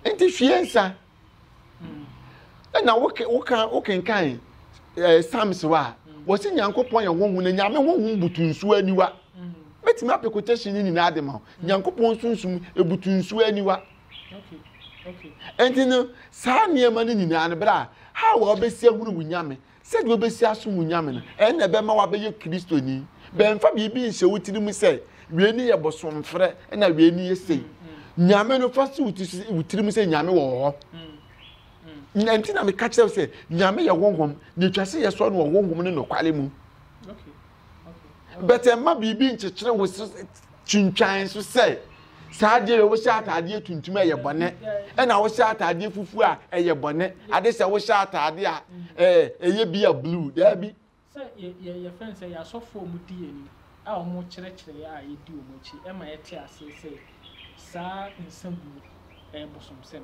nti hwie nsa ɛna wokenkan psalms hɔ a wɔsi nyankopɔn yɛ honhom na nyame honhom butu nsuo aniwa mɛtumi apɛ quotation no nyinaa de ma ho nyankopɔn sunsum ebutu nsuo aniwa. Mm -hmm. nti no saa nneɛma no nyinaa no berɛ a ha wɔ wobɛsi ahunu wo nyame sɛdeɛ wobɛsi asom wo nyame no ɛnna ɛbɛma wabɛyɛ kristoni bɛmfa biribi nhyɛ wo tiri mu sɛ wei ne yɛ bosomfrɛ na wei ne yɛ sei nyame no fa si wo tiri mu sɛ nyame wɔ hɔ na nti na meka kyerɛ sɛ nyame yɛ honhom na ɛtwa sɛ yɛsɔ no wɔ honhom ne nɔkware mu but ɛma biribi nkyekyere wo so twintwan so sɛ saa adeɛ yɛ wohyɛ ataadeɛ tuntum a ɛyɛ bɔne ɛna wohyɛ ataadeɛ fufuo a ɛyɛ bɔne ade sɛ wohyɛ ataadeɛ a ɛɛ ɛyɛ bi a blue daabi. sɛ yɛ yɛ yɛ fɛn sɛ yasɔfo wɔn di yɛn ni a wɔn kyerɛkyerɛ a yɛdi wɔn akyi ɛma yɛte aseɛ sɛ saa nsa gu no ɛyɛ bosomsɛm.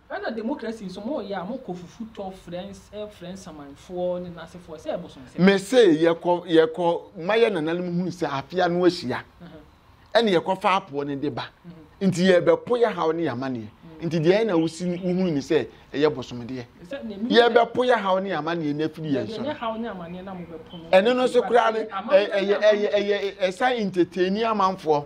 Ghana demokrasi nso mo yɛ a mo kɔ fufu tɔ frɛ frɛ nsamanfoɔ ne nasefoɔ sɛ ɛbosonsɛm. Me se yɛkɔ yɛkɔ ma yɛ nananom hunu sɛ afe ano ahyia ɛna yɛkɔ fa apoɔ no de ba nti yɛbɛ po yɛ haw ne yɛ amaneɛ nti deɛ ɛna wo si wo hunu ne sɛ ɛyɛ bosomdeɛ yɛbɛ po yɛ haw ne yɛ amaneɛ no afiri yɛn so no ɛno no so koraa no ɛyɛ ɛyɛ ɛyɛ ɛsan entertaini amanfoɔ.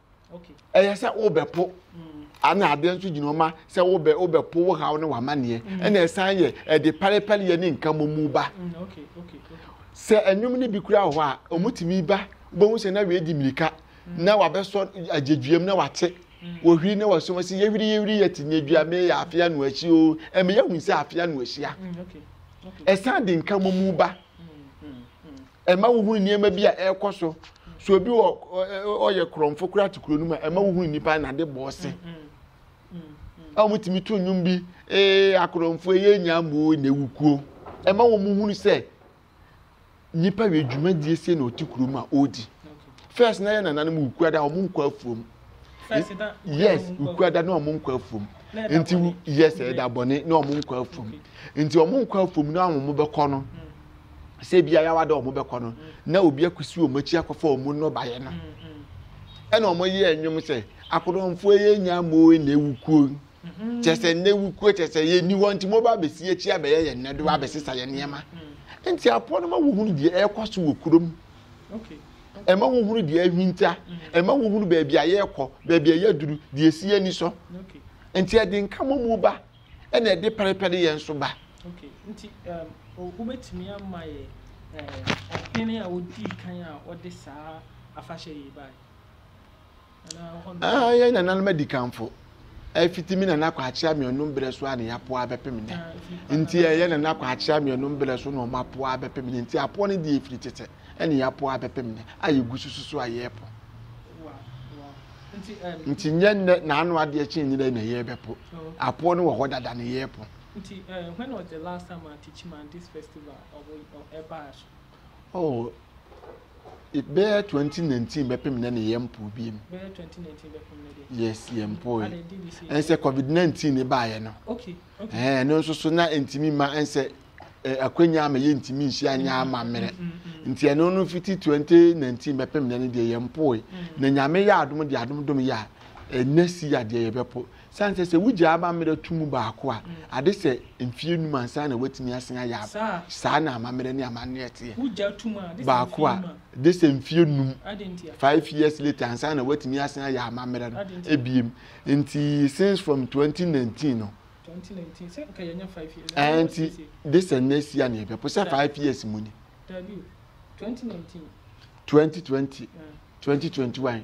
ɛyɛ sɛ wobɛpo ana adeɛ nso gyina ɔma sɛ wobɛ wobɛpo wo haw ne w'amanneɛ mm. ɛna ɛsan yɛ ɛde parepɛreyɛ ne nka mu ba mm, sɛ ɛnwom no bi kura wɔ hɔ a ɔmutumi ba wobɛhu sɛ na wei di mmirika mm. na wabɛsɔ agyedwuam na wate wɔhwiri na wɔsom sɛ yɛhwiri yɛhwiri yɛte ne adwua meyɛ afea no akyi o ɛmeyɛ hu sɛ afea no ahyia ɛsan de nka mu ba ɛma wohunu nneɛma bi a ɛrekɔ so so obi wɔ ɔyɛ korɔmfo koraa te kuro no mu a ɛma wohunu nnipa a n'ade bɔ ɔse a wɔtumi to nnwom bi ee akorɔmfo ɛyɛ nyambo na ewu kuo ɛma wɔn hunu sɛ nnipa wɔ adwumadie sie na ɔte kurom a ɔredi first na yɛ nananom wukura da wɔn nkɔ afuom yes wukura da na wɔn nkɔ afuom nti yes ɛda bɔne na wɔn nkɔ afuom nti wɔn nkɔ afuom na wɔn bɛkɔ no sɛ ebi ayawa da wɔn bɛkɔ no na obi akusi wɔn akyi akɔfa wɔn nnɔbaeɛ no ɛna wɔn yɛ ɛnwom sɛ akodomfoɔ yɛ nya mo na ewu kuo mm-hmm. kyɛ sɛ na ewu kuo kyɛ sɛ yɛ ni hɔ nti mo ba abɛsi akyi abɛyɛ yɛn nɛdo abɛsesa yɛn nneɛma nti apoɔ no ma wɔhunu deɛ ɛrekɔ so wɔ kurom. ɛma wohunu deɛ ahwinta ɛma wohunu baabi a yɛrekɔ baabi a yɛaduru deɛ ɛsi yɛn ani so nti ɛde nkamɔmu ba ɛna ɛde pɛrepɛre yɛn nso ba. Okay. nti um, wobɛtumi ama yɛ eh, ɔhene a ɔdii kan a ɔde saa afahyɛ yi bae Ah, yɛn nananom adikanfo. Ɛfiti mi nana kwakye ameɔnum berɛ so a ne yɛapoa abɛpem nnɛ. Ah, nti ɛyɛ nana kwakye ameɔnum berɛ so na wɔn apoa abɛpem nnɛ. Nti apoa no deɛ ɛfiri tete ɛne yɛapoa abɛpem nnɛ a yɛgu so susu a yɛrepo. Nti nyɛ nnɛ na ano adeɛ kye nyina na yɛrebɛpo. Apoa no wɔ hɔ dada ne yɛrepo. Nti, uh, when was the last time I teach man this festival of, of Ebash? Oh, bɛyɛ twenty nineteen bɛpem na ne yɛ mpo bi mu. Bɛyɛ twenty nineteen bɛpem na deɛ. Yes, yɛ mpo yi. Ɛnsɛ covid nineteen ne baayɛ no. Okay, okay. Ɛɛ ɛno nso so na ntumi ma ɛnsɛ ɛɛ akwanya ama yɛ ntumi nhyia nya ama mmerɛ. Mm, mm, mm, Nti ɛno no fiti twenty nineteen bɛpem na ne deɛ yɛ mpo yi. Na nyame yɛ adom deɛ adom dom yɛ a ɛnɛ si adeɛ yɛ bɛpo. San sɛ, sɛ wogyaa amammerɛ to mu baako a, ade sɛ mfeɛ num ansa na woatumi asen ayɛ aba. Saa na amammerɛ ne amanneɛ teɛ. Baako a, gye sɛ mfeɛ num, five years later, ansa na woatumi asen ayɛ amammerɛ no biom. Nti since from twenty nineteen no, ɛɛ nti gye sɛ nnɛ si a na yɛbɛpo sɛ five years mu ni. Twenty twenty, twenty twenty one.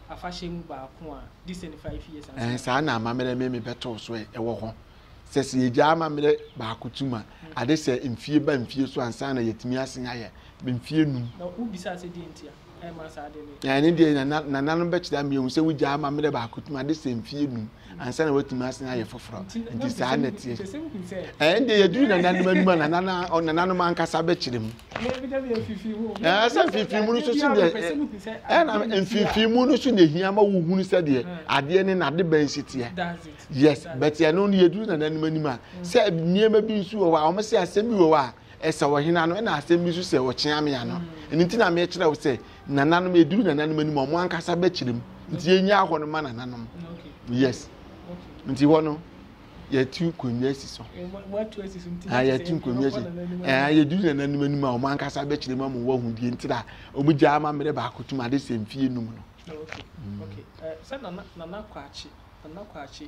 afahyɛ mu baako a di seventy five years ansa. Ɛɛ saa na amammerɛ meme bɛtoo so ɛ ɛwɔ hɔ sɛ sɛ yɛgyaa amammerɛ baako tum a mm. ade sɛ mfie ba mfie so ansa na yɛtumi asen ayɛ mfie num. Na wobisa sɛ deɛ nti a ɛma saa ade no. Ɛne deɛ nananom bɛkyerɛ ama yɛhu sɛ wogyaa amammerɛ baako tum ade sɛ mfie num. ansa na watumi asan ayɛ foforɔ nti saa na teɛ ɛnde yɛduru nananom anim a nananom ankasa bɛkyerɛ mu sɛ mfimfini mu no so so deɛ ɛna mfimfini mu no so na ɛhia ma wohunu sɛ deɛ adeɛ ne nade bɛn si teɛ yes but ɛno no yɛduru nananom anim a sɛ nneɛma bi nso wɔ hɔ a wɔn sɛ asɛm bi wɔ hɔ a ɛsɛ ɔhena no ɛna asɛm bi nso sɛ ɔkyeamea no ɛno nti na mekyerɛ wo sɛ nananom eduru nananom anim ɔmo ankasa bɛkyerɛ mu nti yɛnyaa hɔ no ma nananom yes nti hɔ no yɛtu nkonnwa si so ah, yɛtu nkonnwa si ah, yɛduru nananom anim a ɔmo ankasa bɛkyerɛ mu ama wɔahu deɛ nti na ɔmo gya ama mmerɛ baako tum ade sɛ mfie num no. sɛ nana nana kwakye nana kwakye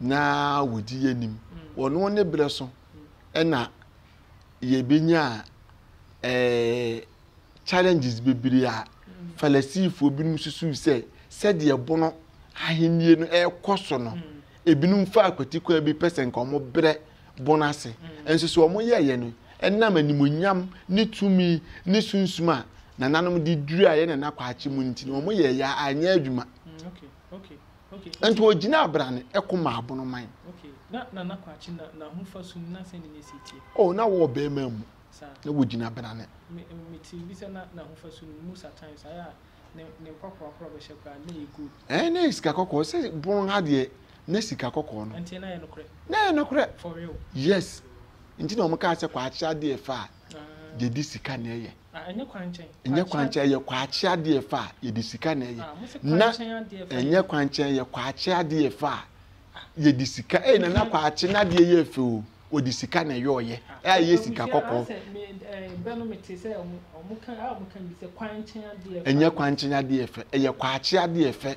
na wɔdi yɛ nim wɔno ne berɛ so ɛna yɛbɛnya eh, challenges bebree a falasifoɔ binom susu sɛ sɛdeɛ bono ahennie no ɛrekɔ so no ebinom fa akwati kwan bi pɛ sɛ nka wɔn brɛ bono ase nso so wɔn yɛɛyɛ no ɛnam animonyam ne tumi ne sunsum a nananom de dura yɛ nana kwakye mu nti na wɔn yɛɛyɛ anyɛ adwuma. Mm, okay, okay. nti ɔgyinaa brane ɛko maa abono man. na nana kwakye na n'ahofa sum na sɛn ne si tie. oh na wɔ bɛrima mu na wɔgyina brane. mete bi sɛ na n'ahofa sum mu sa times ayɛ a ne ne mpapoa korɔ bɛhyɛ koraa na yɛ good. ɛɛ na yɛ sika kɔkɔɔ sɛ bon ha deɛ na sika kɔkɔɔ no. nti na yɛ nokorɛ. na yɛ nokorɛ. for real. yes nti na wɔn kaa sɛ kwakye adeɛ faa deɛ de sika na ɛyɛ. Na ɛnyɛ kwankyɛn. Ɛnyɛ kwankyɛn ɛyɛ kwakye adeɛ ɛfa a yɛde sika na ɛyɛ. Na ɛnyɛ kwankyɛn ɛyɛ kwakye adeɛ ɛfa a yɛde sika ɛyɛ na na kwakye n'adeɛ yɛ fɛ o wɔde sika na ɛyɛ ɔyɛ a ɛyɛ sika kɔkɔɔ. Ɛnyɛ kwankyɛn adeɛ ɛfɛ ɛyɛ kwakye adeɛ ɛfɛ.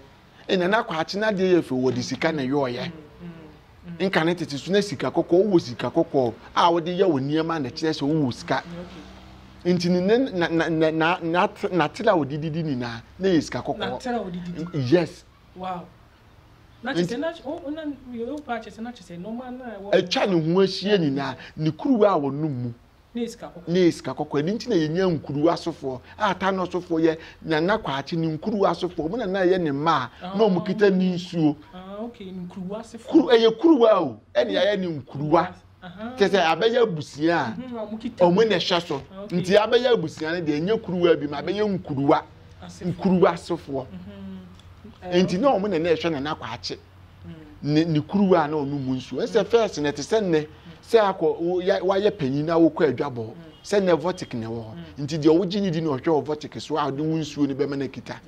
ɛna na kwakye no adeɛ yɛ fɛ wɔde sika na yɔɔyɛ nka ne tete so na sika kɔkɔɔ wowɔ sika kɔkɔɔ a wode yɛ wo nneɛma na kyerɛ sɛ wowɔ sika nti ne ne na na na na na natere a wɔde didi nyinaa na yɛ sika kɔkɔɔ yes wow atwa ne ho ahyia nyinaa ne kuruwa a wɔnom mu ne sika kɔkɔɔ. Ɛno nti na yɛnya nkuruwa asofoɔ a taa no ɔsofoɔ yɛ Nana Kwakye ne nkuruwa asofoɔ. Wɔn na na ɛyɛ ne mma a na ah, wɔkita ne nsuo. Ah, Kuru, ɛyɛ kuruwa o, ɛna yɛayɛ ne nkuruwa. Kyɛ sɛ abɛyɛ abusua a mhm, wɔn na ɛhyɛ so. Ah, nti abɛyɛ abusua no deɛ ɛnyɛ kuruwa bi ma abɛyɛ nkuruwa, nkuruwa asofoɔ. Mhm. Eh, nti na wɔn na na ɛhwɛ Nana Kwakye. ne ne kuruwa a na ɔnom mu nsuo ɛsɛ fɛs na ɛte sɛ nnɛ sɛ akɔ wayɛ panyin na wokɔ adwabɔ sɛ nnɛ vɔtik na ɛwɔ hɔ nti deɛ wogye ne di na ɔhwɛ wɔ vɔtik so a ɔde wo nsuo no bɛma no akita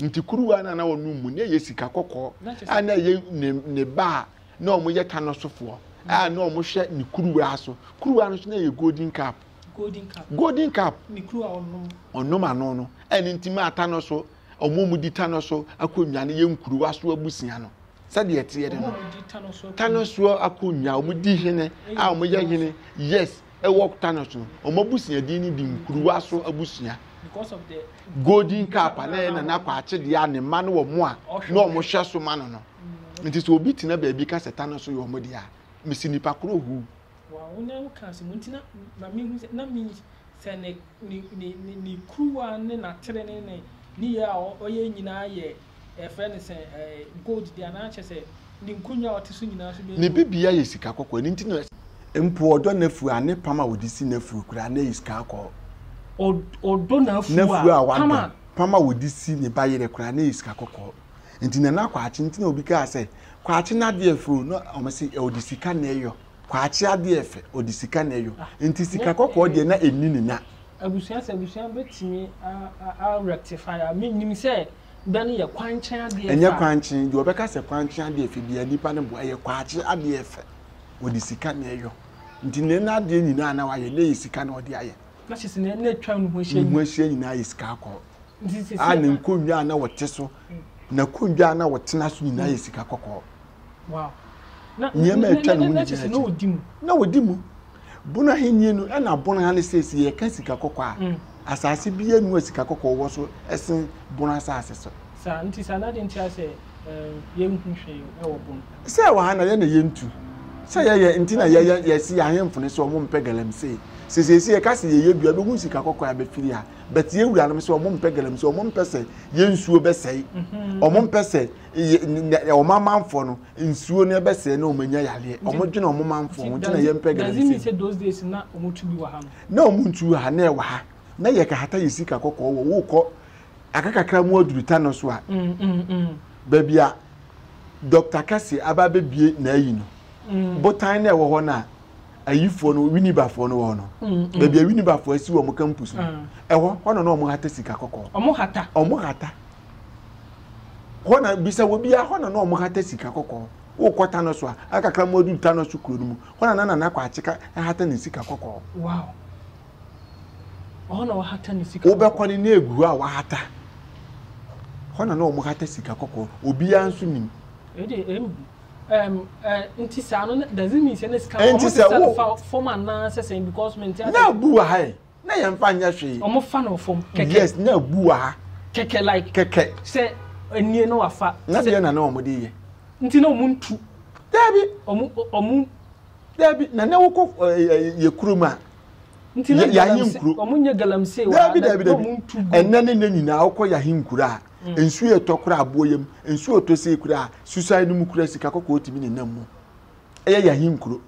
nti kuruwa no na ɔnom mu na ɛyɛ sika kɔkɔɔ a na ɛyɛ ne ne ba a na wɔn yɛ tanɔ sofoɔ a na wɔn hwɛ ne kuruwa so kuruwa no so na ɛyɛ golden cup golden cup ne kuruwa ɔnom ɔnom ano no ɛne nti maa tanɔ so. a wɔn a wɔdi Tano so akonnwa no yɛ nkuruwa so abusua no. Sɛdeɛ ɛteɛ de no, Tano so akonnwa a wɔdi hene a wɔyɛ hene yes ɛwɔ Tano so no, wɔn abusuadin no di nkuruwa so abusua. Golden cap a na ɛyɛ nana kɔ akyedeɛ a ne mma no wɔ mo a na wɔn hyɛ so ma no no. Mm. Nti sɛ obi tena baabi ka sɛ Tano so yɛ wɔn deɛ a, mesi nipa koro huu. Ne ne ne ne kuruwa ne n'atere ne ne nneyɛɛ a ɔyɛ nyinaa yɛ yɛfrɛ no sɛ ɛɛ gold de anaa kyɛ sɛ ne nkonnwa a ɔte so nyinaa nso bɛyɛ gold. Ne bibia yɛ sika kɔkɔɔ ɛno nti na. Mpo ɔdɔ n'afuo a ne pam a ɔde si n'afuo koraa na ɛyɛ sika kɔkɔɔ. Ɔdɔ n'afuo a. N'afuo a wadɔ pam a ɔde si ne ba yerɛ koraa na ɛyɛ sika kɔkɔɔ nti Nana Kwakye nti na obi kaa sɛ Kwakye n'adeɛ fɛ o na wɔn se ɔde sika na ɛyɔ. Kwakye adeɛ yɛ fɛ, ɔde sika na ɛyɔ, nti sika kɔkɔɔ deɛ na ɛnni ne nya. Abusua sɛ abusua bɛtumi a rectify a, menim sɛ bɛ no yɛ kwankye adeɛ fɛ a. Ɛnyɛ kwankye, deɛ ɔbɛka sɛ kwankye adeɛ fɛ biara nipa no boa, ɛyɛ kwakye adeɛ fɛ, ɔde sika na ɛyɔ, nti na ɛna adeɛ nyinaa na wayɛ na ɛyɛ sika na ɔde ayɛ. Na kyerɛ sɛ na ɛna atwa ne ho ahyia nyinaa. Ne ho ahyia nyinaa yɛ sika kɔkɔɔ. Nti sɛ sɛ. A ne nkonnwa a na ɔte so, n'akonnwa a na ɔtena so nyinaa yɛ sika kɔkɔɔ. nneɛma a atwa ne ho nyinaa akyi na ɔdi mu bono ahenni no ɛna bono ha no sɛsi yɛka sika kɔkɔɔ a mm. asase bi anu a sika kɔkɔɔ wɔ so ɛsen bono asase so saa nti saa na de nti asɛ yɛnhu hwee ɛwɔ bono sɛ wɔ ha na yɛ na yɛntu sɛ yɛyɛ nti na yɛyɛ yɛsi ahemfo no sɛ ɔmo mpɛ galamsey sesiesie yɛ kasi yɛ yɛ dua bɛ hu sika kɔkɔɔ a bɛfiri ha bɛte yɛ wura nom sɛ ɔmo mpɛ galamsey ɔmo mpɛ sɛ yɛ nsuo bɛsɛe mhm. ɔmo mpɛ sɛ wɔn amanfoɔ no nsuo no ɛbɛsɛɛ na wɔn anya yareɛ wɔn dwene wɔn manfoɔ ho gyina yɛn pɛ gana nsi na wɔn tu bi wɔ ha no na wɔn ntu ha na ɛwɔ ha na yɛ kahata yɛ sika kɔkɔɔ wɔ wokɔ aka kakra mu aduru ta no so a mm, mm, mm. baabi a dɔkta kɛse aba abɛbie na ayi no botan na ɛwɔ hɔ no a ayifoɔ no winibafoɔ no wɔ no baabi a winibafoɔ asi wɔ mo campus no ɛhɔ hɔ na na wɔn hata sika kɔkɔɔ wɔn hata wɔn hata hɔ na bisa wɔ biara hɔ na na wɔn hata sika kɔkɔɔ wokɔ tano so a akakra mu adu tano so kuro no mu hɔ na na nana akɔ akyeka hata ne sika kɔkɔɔ. wow ɔhɔ na wahata ne sika wobɛkɔ ne ne egu hɔ a wahata hɔ na na wɔn hata sika kɔkɔɔ obiara nso nim. ɛde ɛm ɛm ɛɛ nti saa no doesn't mean sɛ ne sika wɔn sɛ sɛ fa fam anaa sɛ sɛn because mi n tɛ ase. na bu wɔ ha yɛ. na yɛn fa nyɛ hwee. wɔn fa no fam kɛkɛ. yes na abu wɔ ha. kɛkɛ like kɛkɛ. sɛ anie na wafa. na deɛ na na wɔn de yɛ. nti na wɔn ntu. daabi. wɔn wɔn. daabi na na wɔkɔ ɛɛ yɛ kurom a. nti na galamsey wɔn nyɛ galamsey wɔ ha. daabi daabi daabi ɛnɛ ne ne nyinaa wɔkɔ yɛ ahenkura a. Mm. nsuo ɛtɔ kora aboɔ yam nsuo ɛtɔ sɛ kura susan no mu kura sika kɔkɔɔ tumi ne nam mu ɛyɛ yɛn ahenkuro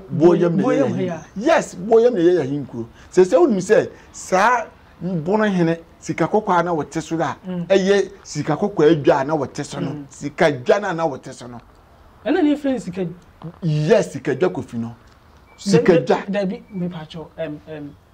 boyam na ɛyɛ yɛn yes boyam na ɛyɛ yɛn ahenkuro sɛ sɛ wonim sɛ saa bono hene sika kɔkɔɔ a na wɔte so a mm. ɛyɛ sika kɔkɔɔ adwa a na wɔte so no mm. sika dwa no a na wɔte so no ɛna ne yɛfrɛ no sika yes sika dwa kofi no sika dwa dabi mepatwɔ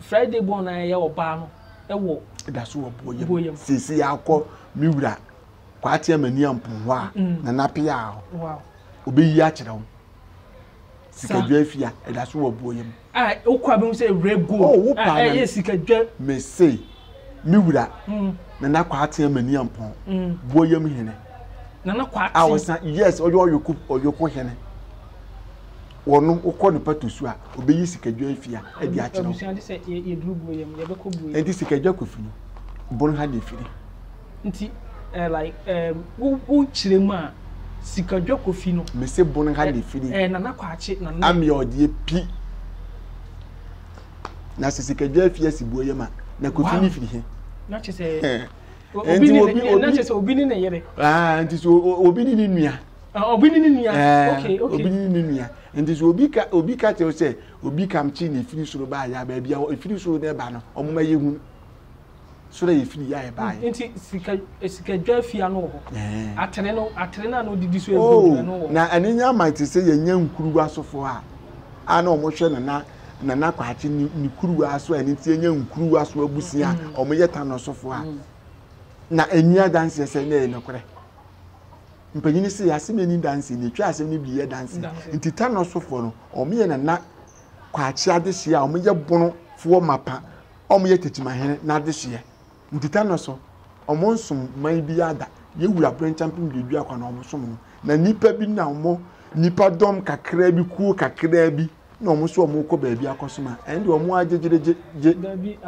Friday born na yɛyɛ ɔbaa no wɔ ɛda so wɔ boɔ yam sese yɛakɔ me wura kwaate amani ampo hɔ a mm. na napea hɔ ɔbɛyi akyerɛ wo sikadwa afia ɛda so wɔ boɔ yam wokɔ abɛhu sɛ wura gold oh, ɛyɛ sikadwa mese me wura mm. na na kwaate amani ampo mm. boɔ yam hene nana kwaate a ɔsan yes ɔyɛ ɔyɔko ɔyɔko hene Wɔ no wokɔ ne patosu a obeyi sikadwa afi ha de akyerɛ wo. Nti sikadwa kofi no bon ha na efiri. Nti eh, like eh, wo wo kyerɛ mu a sikadwa kofi no. Mese bon ha na efiri. Eh, nana kwakye na ne. Amia ɔdeɛ pi. Na sɛ sikadwa afi asi buo yɛ ma na kofi ne firi he. Na kyɛ sɛ obi ne obi ne ne yere. Ah, nti sɛ obi ne ne nua. Ah, obi ne ne nua eh, okay okay obi ne ne nua nti so obi ka obi ka kyerɛ sɛ obi kam kye na efiri soro baa ya baabi a efiri soro na ɛba no wɔn ma yɛ hu soro a efiri ya ɛbaa yɛ. nti sika eh, sika dwa fi ano wɔ hɔ eh. atere no atere no a na odidi so ebi ano wɔ. na ɛne nya ama te sɛ yɛn nya nkuruwa asofo a a na wɔn hwɛ nana nana kwakye ne ne kuruwa so a ɛne ti nya nkuruwa so abusua a mm. wɔn yɛ tanɔ sofo a mm. na enyi adansi sɛ ne yɛ nokorɛ. Mpanyini se asem ani danse na etwa asem no bi yɛ danse nti tanɔsofoɔ no wɔn yɛ nana kwakye adehyeɛ a wɔn yɛ bono foɔ mapa wɔn yɛ tetimahene n'adehyeɛ nti tanɔso wɔn nsom man bi ada yɛ wura brenkyɛmpem deɛ dua kwa na wɔn som no na nipa bi na wɔn nipa dɔm kakraa bi kuo kakraa bi na wɔn nso wɔn kɔ baabi akɔsom a ɛn deɛ wɔn agyegyegyegye. dabi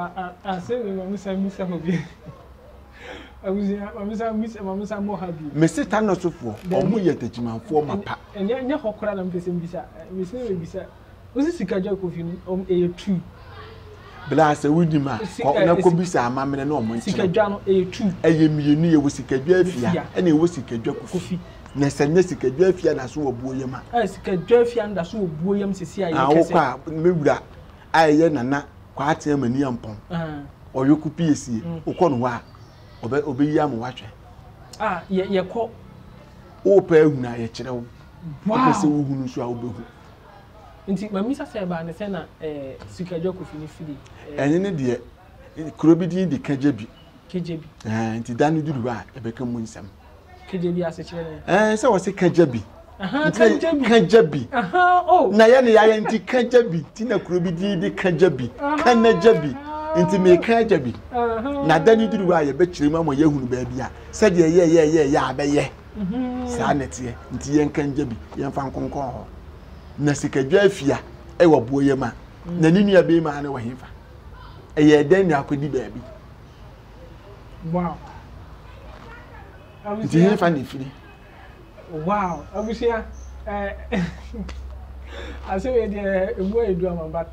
ase mi maame san mi sɛ hɔ bi abusua maame san mi sɛ maame san mɔ ha bi. mesi ta nɔsofoɔ wɔn yɛ tɛkyimanfoɔ ma pa. ɛnyɛ ɛnyɛ hɔ koraa na mpɛsɛ mbisa mesi na mebisa wosi sika gya kofi no wɔn ɛyɛ true. Bla sɛ wonim a, kɔ na kɔbisa amammerɛ na wɔn nkyerɛ. Ɛyɛ mmienu, yɛwɔ sikadwa afia ɛna ɛwɔ sikadwa kofi. Na sɛ nnɛ sikadwa afia da so wɔ buo yam a. Ɛɛ sikadwa afia no da so wɔ buo yam sisi a yɛ kɛse. Awokɔ a me wura a ɛyɛ nana kwaate ama ni ampɔn. Ɔyɔ ko pie sie. Wokɔ no hɔ a ɔbɛ ɔbɛyi ama wahwɛ. A yɛ yɛkɔ. Wopɛ ahunu a yɛkyerɛ wo. Wow. Wopɛ sɛ wohunu nso a wobɛhu. Nti mamisa sɛ ɛbaa ne sɛ na ɛɛ Sikadwa Kofi ne firi ɛɛ. Ɛne ne deɛ kuro bi din de Kagyabi. Kagyabi. Ɛɛ nti da no duru hɔ a ɛbɛka mu nsɛm. Kagyabi asekyerɛ ne. Ɛɛ sɛ wɔsi Kagyabi. Ahan Kagyabi. Kagyabi. Ahan o. Oh. Na yɛ ne yayɛ nti Kagyabi ti na kuro bi din de Kagyabi. Kanagyabi. Nti mi Kagyabi. Na da no duru hɔ a yɛbɛkyerɛ mu ama yɛahunu baabi a sɛdeɛ yɛyɛyɛyɛ a bɛyɛ. saa na ɛteɛ nti yɛnka ngya bi yɛmfa nkonkɔn hɔ na sikadwa afia ɛwɔ boɔ yɛ ma mm. na ne nua bɛrima ne wɔ hefa ɛyɛ dɛn na akɔdi baabi nti hefa ne firi wow abusua eh, asɛm yɛ deɛ ɛmu ayɛ du ama but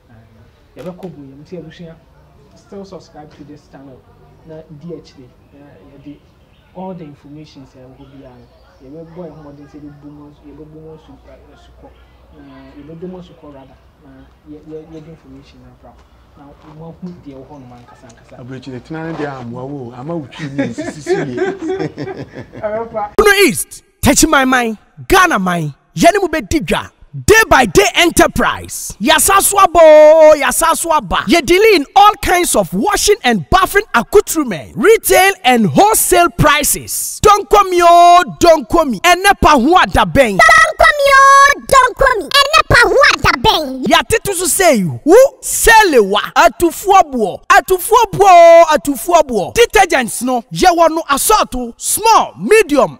Aah yɛbɛkɔ bu yɛn mu sɛ abusua still subscribe to this channel na di akyire na yɛde all the informations a ɛwɔ hɔ biara no yɛbɛbɔ yɛn ho mmɔden sɛ yɛbɛbu mu asu yɛbɛbu mu asu asukɔ na yɛbɛdɔ mu asukɔ rather na yɛ yɛ yɛde information no abra na moahu deɛ ɛwɔ hɔnom ankasa ankasa. aburokyire tena ne deɛ ammoa wo o ama wo twi mu nsisisi yie. Ɛbɛfa. Bono East. Techimanman, Ghana man, yɛne mo bɛdi dwa. Day by day enterprise, yɛasan so aba oo, yɛasan so aba. Yɛ dealing in all kinds of washing and bathing accoutrements, retail and wholesale prices. Donko mi oo, donko mi, ɛnɛ pahoa da bɛn? Donko mi oo, donko mi, ɛnɛ pahoa da bɛn? Yɛatete so sɛ wu, sɛlewa, atufoɔ boɔ, atufoɔ boɔ oo, atufoɔ boɔ. Detergents no, yɛwɔ no asɔɔto, small, medium,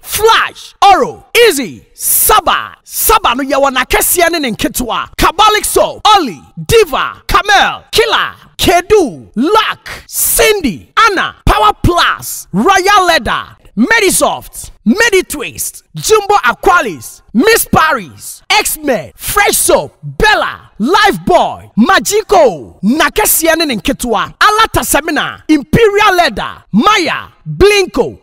Flash, Oro, Izzy, Saba, Saba no yɛwɔ n'akɛseɛ ne ne nketewa, Kabalik Soap, Olly, Diva, Camel, Killer, Kedu, Luck, Cindy, Anna, Power Plus, Royal Leather, Medisoft, Meditwist, Jumbo Aqualis, Miss Paris, X-Men, Fresh Soap, Bella, Lifebuoy, Magico, n'akɛseɛ ne ne nketewa, Alata Semina, Imperial Leather, Maya, Blinko,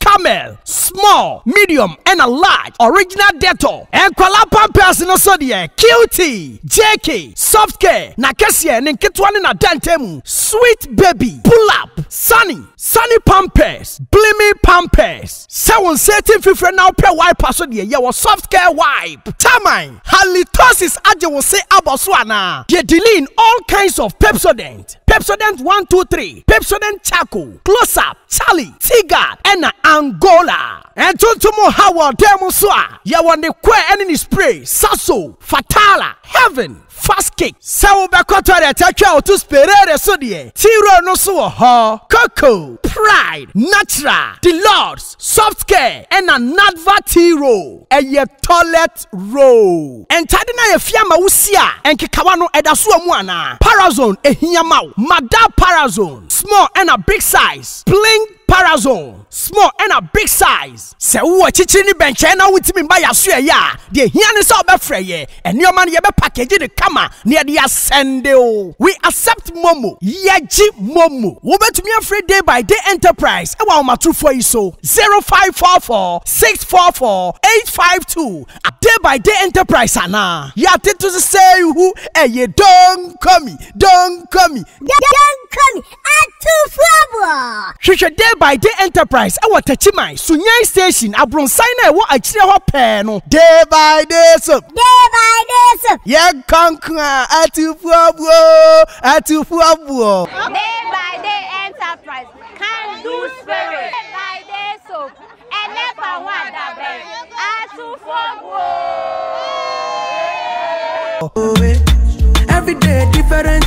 Camel, small, medium ɛna large, original Dettol, nkwadaa pampers no so deɛ cutie, JK, soft care, n'akɛseɛ, ne nketewa ne n'adantamu, sweet baby, pull up, sunny, sunny pampers, blimi pampers, sɛ wo nsa ti mfifire na wopɛ wiper so deɛ yɛwɔ soft care wipe, taman, halitosis agye wo se abɔ so anaa, yɛ deline all kinds of Pepsodent. Pepsodent one two three, Pepsodent Charcoal, Close Up, Charlie, T-Guard, ɛna Angola. Ntontom ha wɔ dan mu nso a, yɛwɔ ne kɔɛ ne ne spray, Sasso, Fatala, Heaven, Fast Kick. Sɛ wobɛkɔ toilet atwa wo to Sperare so deɛ, T-Roll no nso wɔ hɔ. Coco, Pride, Natural, Deluxe, Softcare na Nadva tea roll, ɛyɛ toilet roll. Ntade no a yɛafia ama wo si a nkekawa no ɛda so wɔ mu anaa? Parazone ɛhia ma wo. Madar Parazone small ɛna big size, Pling Parazone small ɛna big size. Sɛ wowɔ akyikyiri ne bɛnkyɛn na wontumi mma yɛasoɛ yɛ a, deɛ ɛhia ne sɛ wobɛfrɛ yɛn. Nneɛma no yɛbɛ package no kama na yɛde asɛnde o. We accept momo. Yɛgye momo. Wobɛtumi afrɛ Day by Day Enterprise ɛwɔ ahomatorofoɔ yi so, 0544 644 852 a Day by Day Enterprise anaa. Yɛatete so sɛ ihu ɛye Donkomi, Donkomi. Donkomi Atufoɔ! Hwehwɛ Day by Day Enterprise wɔ Takyiman, Sunyani Station, abronsan no a ɛwɔ akyire hɔ pɛɛ no. Day by Day Soap. Day by Day Soap. Yɛnkɔ nko a, Atufoɔboɔ oo, Atufoɔboɔ. Day by Day Enterprise, Can Do Spirit. Day by Day Soap, Ɛnɛ fa ho adabɛn, Atufoɔboɔ oo. Every day different.